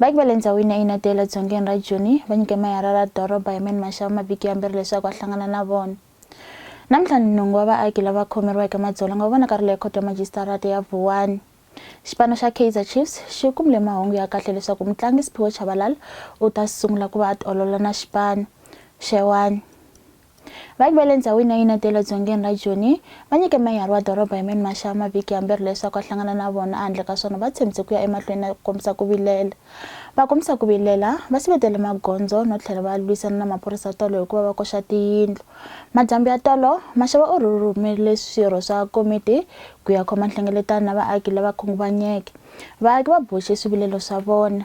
Vaaki va le ndzhawini ya Inadale edzongeni ra Joni va nyike meyara ra doroba Herman Mashaba mavhiki yambirhi leswaku a hlangana na vona. Namuntlha ni nhungu wa vaaki lava khomeriweke madzolonga va vonakarile ekhoto ya majisitarata ya Vuwani. Xipano xa Kaizer Chiefs xi kumile mahungu ya kahle leswaku mutlangi Siphiwe Chabalala u ta sungula ku va a tiolola na xipano xewani. Vaaki va le ndzhawini ya Yunete ya le dzongeni ra Joni va nyike meyara wa doroba Herman Mashaba mavhiki yambirhi leswaku a hlangana na vona, ehandle ka swona va tshembise ku ya emahlweni na ku kombisa ku vilela. Va kombisa ku vilela, va sivetele magondzo no tlhela va lwisana na maphorisa tolo hi ku va va koxa tiyindlu. Madyambu ya tolo, Mashaba u rhumerile swirho swa komiti ku ya khoma nhlengeletano na vaaki lava khunguvanyeke. Vaaki va boxe swivilelo swa vona.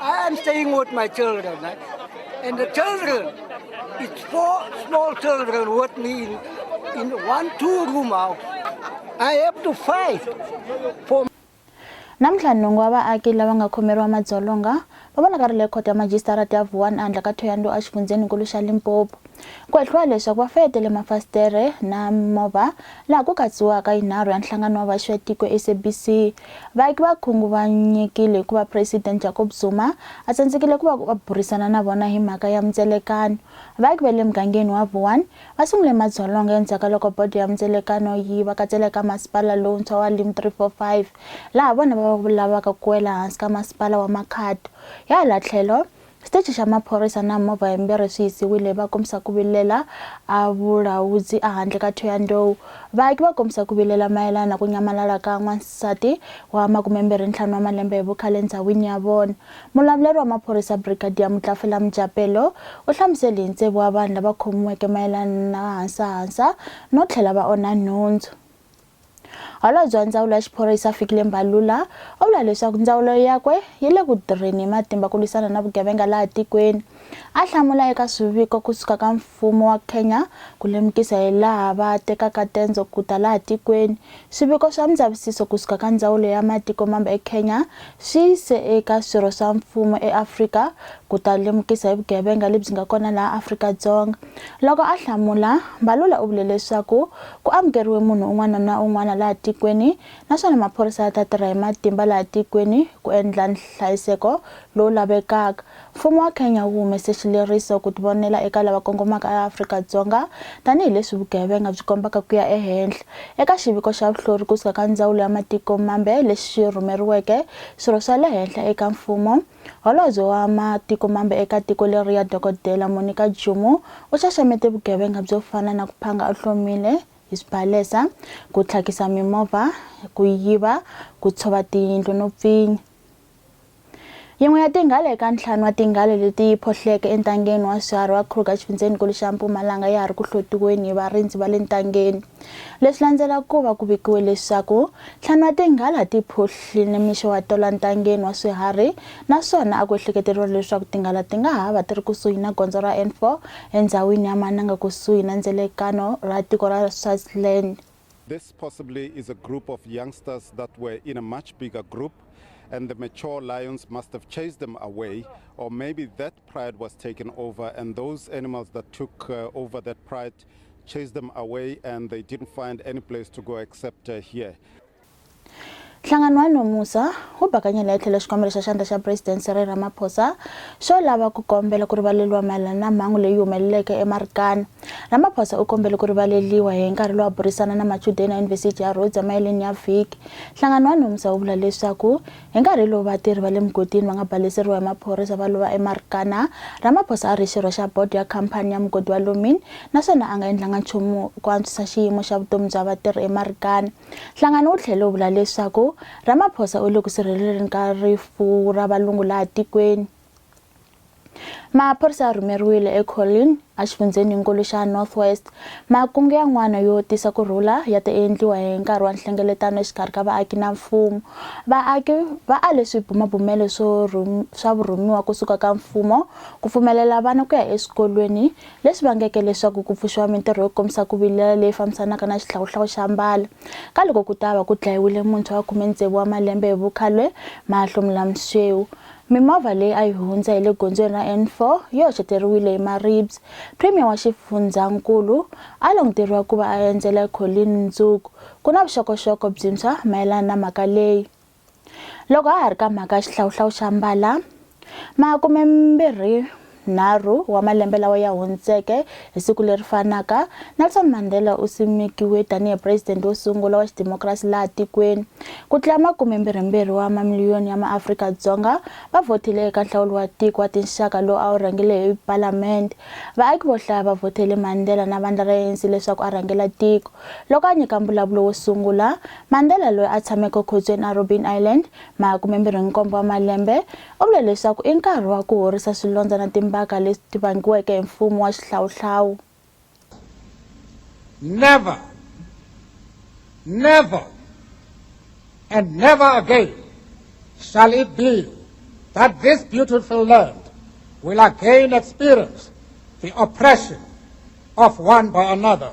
I am staying with my children, right? and the children, it's four small children with me in, in one two-room house. I have to fight for namuntlha nhungu wa vaaki lava nga khomeriwa madzolonga va vonaka ri le khoto ya majisitarati ya vuwani andla ka thoyando exifundzheninkulu xa limpopo ku hehliwa leswaku va fayetele mafasitere na movha laha ku katsiwaka yinharhu ya nhlangano wa vaxi ya tiko sabc Vaaki va khunguvanyekile hikuva Presidente Jacob Zuma a tsandzekile ku va va burisana na vona hi mhaka ya mundzelekano. Vaaki va le mugangeni wa Vuwani va sungule madzolonga endzhaku ka loko bodo ya mundzelekano yi va katsela eka masipala lowuntshwa wa Lim 345 laha vona va va lavaka ku wela hansi ka masipala wa Makhado. Hi hala tlhelo, Xitichi xa maphorisa na movha yimbirhi swi yisiwile va kombisa ku vilela a Vulawudzi ehandle ka Thohoyandou. Vaaki va kombisa ku vilela mayelana na ku nyamalala ka n'wansati wa makumembirhi ntlhanu wa malembe hi vukhale ndzhawini ya vona. Mulavuleri wa maphorisa Brigadier Mutlafela Mjapelo u hlamuseli hi ntsevu wa vanhu lava khomiweke mayelana na hansahansa no tlhela va onha nhundzu. Holobye wa Ndzawulo ya Xiphorisa Fikile Mbalula u vula leswaku ndzawulo yakwe yi le ku tirheni hi matimba ku lwisana na vugevenga laha tikweni. A hlamula eka swiviko kusuka ka mfumo wa Kenya ku lemukisa hi laha va tekaka tendzo ku ta laha tikweni. Swiviko swa mindzavisiso kusuka ka Ndzawulo ya Matiko Mambe eKenya swi yise eka swirho swa mfumo eAfrika ku ta lemukisa hi vugevenga lebyi nga kona laha Afrika-Dzonga. Loko a hlamula, Mbalula u vule leswaku Ku amukeriwe munhu un'wana na un'wana laha tikweni naswona maphorisa ya ta tirha hi matimba laha tikweni ku endla nhlayiseko lowu lavekaka. Mfumo wa Kenya wu humese xileriso ku tivonela eka lava kongomaka eAfrika-Dzonga tanihi leswi vugevenga byi kombaka ku ya ehenhla. Eka xiviko xa vuhlori kusuka ka Ndzawulo ya Matiko Mambe lexi rhumeriweke swirho swa le henhla eka mfumo, Holobye wa Matiko Mambe eka tiko leriya Dokodela Monica Jumo u xaxamete vugevenga byo fana na ku phanga u hlomile hi swibalesa, ku tlhakisa mimovha, ku yiva, ku tshova tiyindlu no pfinya. Yin'we ya tinghala eka ntlhanu wa tinghala leti phohleke entangeni wa swiharhi wa Kruger exifundzhenikulu xa Mpumalanga ya ha ri ku hlotiweni hi varindzi va le ntangeni. Leswi landzelaka ku va ku vikiwe leswaku ntlhanu wa tinghala ti phuhli nimixo wa tola ntangeni wa swiharhi naswona a ku ehleketeriwa leswaku tinghala ti nga ha va ti ri kusuhi na gondzo ra N4 endhawini ya Mananga kusuhi na ndzelekano ra tiko ra Swaziland. This possibly is a group of youngsters that were in a much bigger group and the mature lions must have chased them away or maybe that pride was taken over and those animals that took uh, over that pride chased them away and they didn't find any place to go except uh, here. nhlangano wa nomusa wu bakanyela etlhelo xikombelo xa xandla xa president Cyril Ramaphosa xo lava ku kombela ku rivaleriwa mayelana na mhangu leyi humeleleke eMarikana. Ramaphosa u kombele ku rivaleliwa hi nkarhi lowu a burisana na machudeni ya Yunivhesiti ya Rhodes emaheleni ya vhiki. Nhlangano wa nomusa wu vula leswaku Hi nkarhi lowu vatirhi va le mugodini va nga baleseriwa hi maphorisa va lova eMarikana, Ramaphosa a ri xirho xa bodo ya khampani ya mugodi wa Lomin naswona a nga endlanga nchumu ku antswisa xiyimo xa vutomi bya vatirhi eMarikana. Nhlangano wu tlhele wu vula leswaku Ramaphosa u le ku sirheleleni ka rifu ra valungu laha tikweni. Maphorisa ya rhumeriwile eColleen, exifundzheninkulu xa North West. Makungu yan'wana yo tisa ku rhula ya ta endliwa hi nkarhi wa nhlengeletano exikarhi ka vaaki na mfumo. Vaaki va ale swibumabumelo swo swa vurhumiwa kusuka ka mfumo ku pfumelela vana ku ya eswikolweni, leswi vangeke leswaku ku pfuxiwa mintirho yo kombisa ku vilela leyi fambisanaka na xihlawuhlawu xa mbala. Ka loko ku ta va ku dlayiwile muntshwa wa khume-tsevu wa malembe hi vukhalwe, Mahlo Mlamsweu, Mimovha leyi a yi hundza hi le gondzweni ra N4 yi hoxeteriwile hi maribye. Premier wa xifundzankulu a languteriwa ku va a endzela Colleen mundzuku ku na vuxokoxoko byintshwa mayelana na mhaka leyi. Loko ha ha ri ka mhaka ya xihlawuhlawu xa mbala, makumembirhi nharhu wa malembe lawa ya hundzeke, hi siku leri fanaka, Nelson Mandela u simekiwe tanihi president wo sungula wa xidemokirasi laha tikweni. Ku tlula makume mbirhi-mbirhi wa mamiliyoni ya maAfrika-Dzonga va vhotile eka nhlawulo wa tiko wa tinxaka lowu a wu rhangele hi palamende. Vaaki vo hlaya va vhotele Mandela na vandla ra ANC leswaku a rhangela tiko. Loko a nyika mbulavulo wo sungula, Mandela loyi a tshameke ekhotsweni eRobben Island, makume mbirhi-nkombo wa malembe, U vule leswaku i nkarhi wa ku horisa swilondza na timbaka leti vangiweke hi mfumo wa xihlawuhlawu. Never, never and never again shall it be that this beautiful land will again experience the oppression of one by another.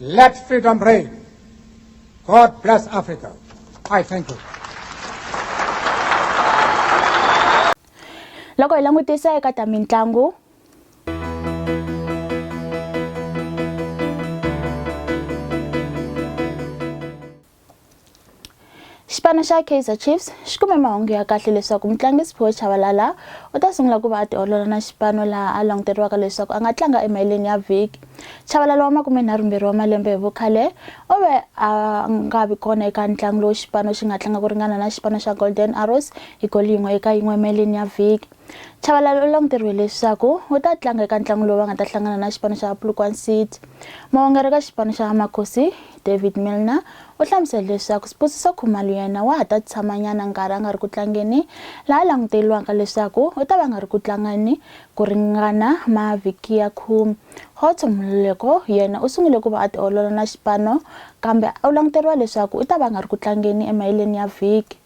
Let freedom reign. God bless Africa. I thank you. loko hi langutisa eka ta mitlangu Xipano xa Kaizer Chiefs xi kume mahungu ya kahle leswaku mutlangi Siphiwe Chabalala u ta sungula ku va a tiolola na xipano laha a languteriwaka leswaku a nga tlanga emaheleni ya vhiki. Chabalala wa makumenharhumbirhi wa malembe hi vukhale u ve a nga vi kona eka ntlangu lowu xipano xi nga tlanga ku ringana na xipano xa Golden Arrows hi goli yin'we eka yin'we emaheleni ya vhiki. Chabalala u languteriwe leswaku u ta tlanga eka ntlangu lowu va nga ta hlangana na xipano xa Polokwane City. Muongeri ka xipano xa Makhosi David Milner u hlamusele leswaku Sibusiso Khumalo yena wa ha ta tshamanyana nkarhi a nga ri ku tlangeni, laha languteriwaka leswaku u ta va nga ri ku tlangeni ku ringana mavhiki ya khume. Khotso Mololeko yena u sungule ku va a tiolola na xipano kambe u languteriwa leswaku u ta va nga ri ku tlangeni emaheleni ya vhiki.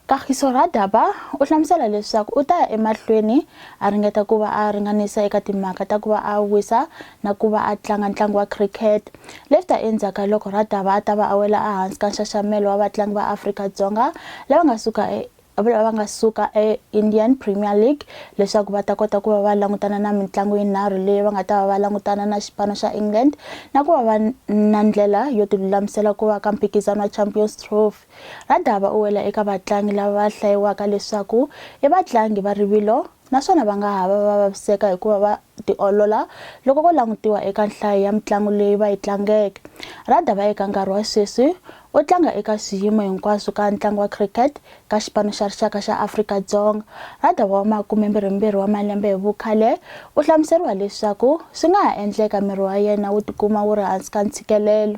Kagiso Radaba u hlamusela leswaku u ta ya emahlweni a ringeta ku va a ringanisa eka timhaka ta ku va a wisa na ku va a tlanga ntlangu wa cricket. Leswi ta endzhaku loko Radaba a ta va a wela ehansi ka nxaxamelo wa vatlangi va Afrika-Dzonga lava nga suka e lava nga suka e-Indian Premier League leswaku va ta kota ku va va langutana na mitlangu yinharhu leyi va nga ta va va langutana na xipano xa England na ku va va na ndlela yo tilulamisela ku va ka mphikizano wa Champions catastrophe. Radaba u wela eka vatlangi lava va hlayiwaka leswaku i vatlangi va rivilo naswona va nga ha va va vaviseka hikuva va tiolola loko ko langutiwa eka nhlayo ya mitlangu leyi va yi tlangeke. Radaba eka nkarhi wa sweswi u tlanga eka swiyimo hinkwaswo ka ntlangu wa cricket ka xipano xa rixaka xa Afrika-Dzonga. Radaba wa makumembirhimbirhi wa malembe hi vukhale u hlamuseriwa leswaku swi nga ha endleka miri wa yena wu tikuma wu ri hansi ka ntshikelelo.